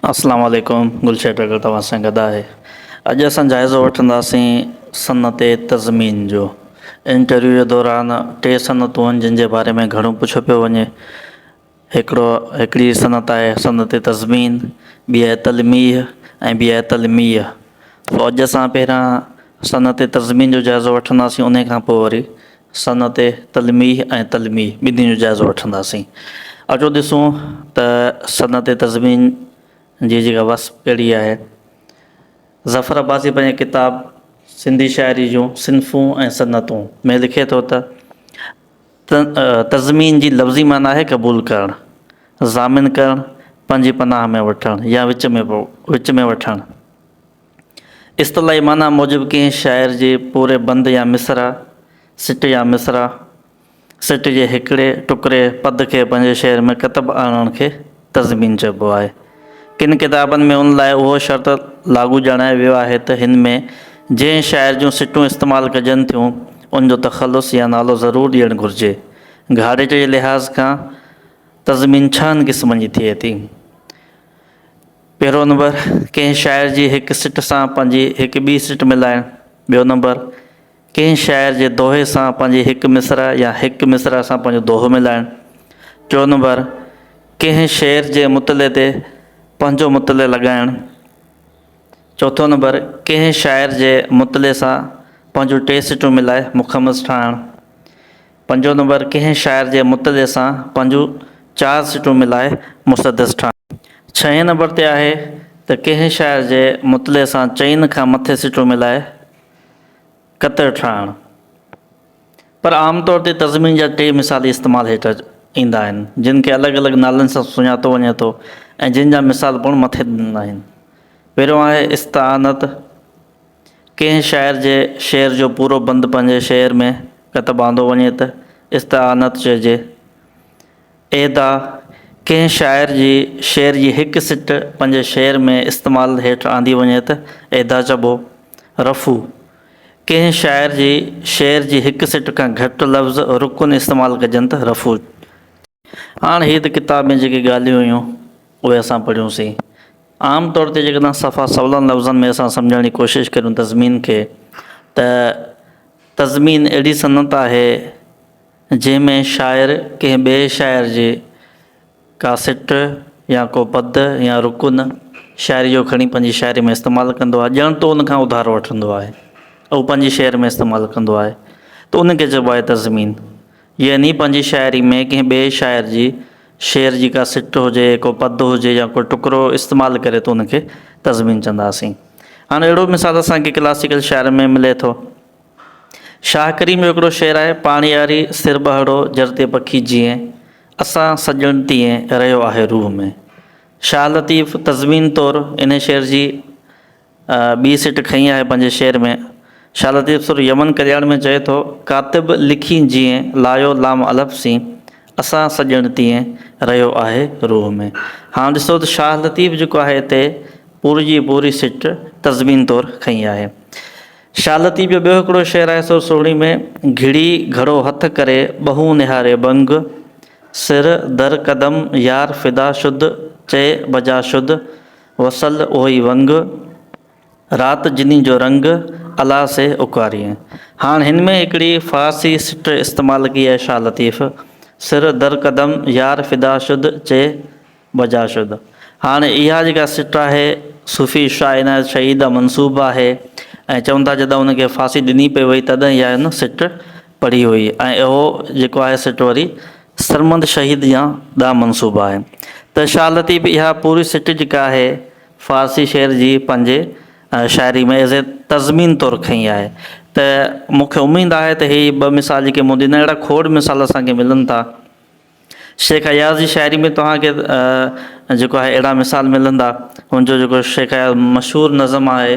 اسلام عليڪم گلشير ڊگهه توهان سان گڏ آهي اڄ اسان جائزو وٺنداسين صنعت تضمين جو انٽرويو جي دوران ٽي صنعتون آهن جن جي باري ۾ گهڻو پڇيو پيو وڃي هڪڙو هڪڙي صنعت آهي صنعت تضمين ٻي آهي تلميح ۽ ٻي آهي تلميح سو اڄ اسان پهريان صنعت تضمين جو جائزو وٺنداسين ان کان پوء وري صنعت تلميح ۽ تلميح ٻنهي جو جائزو وٺنداسين. اچو ڏسون ته صنعت تضمين جي جيڪا وصف ڪهڙي آهي. ظفر عباسي پنهنجي ڪتاب سنڌي شاعري جون صنفون ۽ صنعتون ۾ لکي ٿو ته، تضمين جي لفظي معنيٰ آهي قبول ڪرڻ، ضامن ڪرڻ، پنهنجي پناهه ۾ وٺڻ يا وچ ۾ وٺڻ. اصطلاحي معنيٰ موجب ڪنهن شاعر جي پوري بند يا مصرع، سٽ يا مصرع، سٽ جي هڪڙي ٽڪري، پد، کي پنهنجي شعر ۾ ڪتب آڻڻ کي تضمين چئبو آهي. ڪن ڪتابن ۾ ان لاء اهو شرط لاڳو ڄاڻايو ويو آهي ته هن ۾ جنهن شاعر جون سٽون استعمال ڪجن ٿيون، ان جو تخلص يا نالو ضرور ڏيڻ گهرجي. گهاڙيٽ جي لحاظ کان تضمين ڇهن قسمن جي ٿئي ٿي. پهريون نمبر، ڪنهن شاعر جي هڪ سٽ سان پنهنجي هڪ ٻي سٽ ملائڻ. ٻيو نمبر، ڪنهن شاعر جي دوهي سان پنهنجي هڪ مصرع يا هڪ مصرع سان پنهنجو دوهو ملائڻ. ٽيون نمبر، ڪنهن شعر جي مطلعي تي پنهنجو مطلع لڳائڻ. چوٿون نمبر، ڪنهن شاعر جي مطلعي سان پنهنجون ٽي سٽون ملائي مخمس ٺاهڻ. پنجون نمبر، ڪنهن شاعر جي مطلع سان پنهنجون چار سٽون ملائي مسدس ٺاهڻ. ڇهين نمبر تي آهي ته ڪنهن شاعر جي مطلع سان چئن کان مٿي سٽون ملائي قطر ٺاهڻ. پر عام طور تي تضمين جا ٽي مثال ئي استعمال هيٺ ايندا آهن، جن کي الڳ الڳ نالن سان سڃاتو وڃي ٿو ۽ جن جا مثال پڻ مٿي ڏنل آهن. پهريون آهي استعانت. ڪنهن شاعر جي شعر جو پورو بند پنهنجي شعر ۾ ڪتب آندو وڃي ته استعانت چئجي. ايدا ڪنهن شاعر جي شعر جي هڪ سٽ پنهنجي شعر ۾ استعمال هيٺ آندي وڃي ته ايدا چئبو. رفع، ڪنهن شاعر جي شعر جي هڪ سٽ کان گهٽ لفظ رڪن استعمال ڪجن ته رفع چئجي. هاڻ هي ته ڪتاب ۾ جيڪي ڳالهيون هيون اهي اسان پڙهيون سين. عام طور تي جيڪڏهن صفا سولن لفظن ۾ اسان سمجهڻ جي ڪوشش ڪريون تضمين کي ته تضمين اهڙي صنعت آهي جنهن ۾ شاعر ڪنهن ٻئي شاعر جي ڪا سٽ يا ڪو پد يا رڪن شاعري جو کڻي پنهنجي شاعري ۾ استعمال ڪندو آهي ڄڻ تو ان کان اڌارو وٺندو آهي اهو پنهنجي شعر ۾ استعمال ڪندو آهي ته ان کي چئبو آهي تضمين يعني پنهنجي شاعري ۾ ڪنهن ٻئي شاعر جي شعر جي ڪا سٽ هجي، ڪو پد هجي يا ڪو ٽڪرو استعمال ڪري ته ان کي تضمين چونداسين. هاڻ اهڙو مثال اسان کي ڪلاسيڪل شاعرن ۾ ملي ٿو. شاهه ڪريم جو هڪڙو شعر آهي، پاڻياري سر ٻهڙو جرتي پکي جيئين، اسان سڄڻ تيئين رهيو آهي روح ۾. شاهه لطيف تضمين طور انهي شعر جي ٻي سٽ کنئي آهي پنهنجي شعر ۾. شاهه لطيف سر يمن ڪلياڻ ۾ چئي ٿو، ڪاتب لکين جيئن لايو لام الف سين، اسان سڄڻ تيئن رهيو آهي روح ۾. هاڻ ڏسو ته شاهه لطيف جيڪو آهي اتي پوري جي پوري سٽ تضمين طور کنئي آهي. شاهه لطيف جو ٻيو هڪڙو شعر آهي سر سهڻي ۾، گهڙي گهڙو هٿ ڪري ٻهون نهاري ٻنگ، سر در قدم يار فدا شد چئي بجا شد، وصل اهوئي ونگ، رات جني جو رنگ، الا سي اڪوارين. هاڻ هن ۾ هڪڙي فارسي سٽر استعمال ڪئي آهي شاهه لطيف، سر در قدم يار فدا شد چي بجا شد. هاڻ اها جيڪا سٽر آهي صوفي شاهه عنايت شهيد ڏانهن منسوب آهي ۽ چون ٿا جڏهن ان کي ڦاسي ڏني پئي وئي تڏهن اها هن سٽر پڙهي هئي ۽ اهو جيڪو آهي سٽ وري سرمند شهيد جيان ڏانهن منسوب آهي ته شاهه لطيف اها پوري سٽ جيڪا آهي فارسي شعر جي پنهنجي شاعري ۾ ايز اي تضمين طور کنئي آهي ته مون کي اميد آهي ته هي ٻه مثال جيڪي مون ڏنا اهڙا کوڙ مثال اسان کي ملن ٿا شيخ اياز جي شاعري ۾ توهان کي جيڪو آهي اهڙا مثال ملندا هن جو جيڪو شيخ اياز مشهور نظم آهي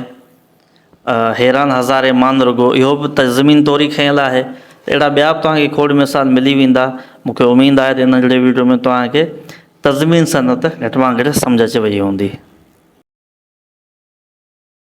حيران هزارين مان رڳو اهو به ته زمين توري کنيل آهي. اهڙا ٻيا به توهان کي کوڙ مثال ملي ويندا. مون کي اميد آهي ته هن ننڍڙي وڊيو ۾ توهان کي تزمين صنعت گهٽ مان گهٽ سمجهه اچي وئي هوندي.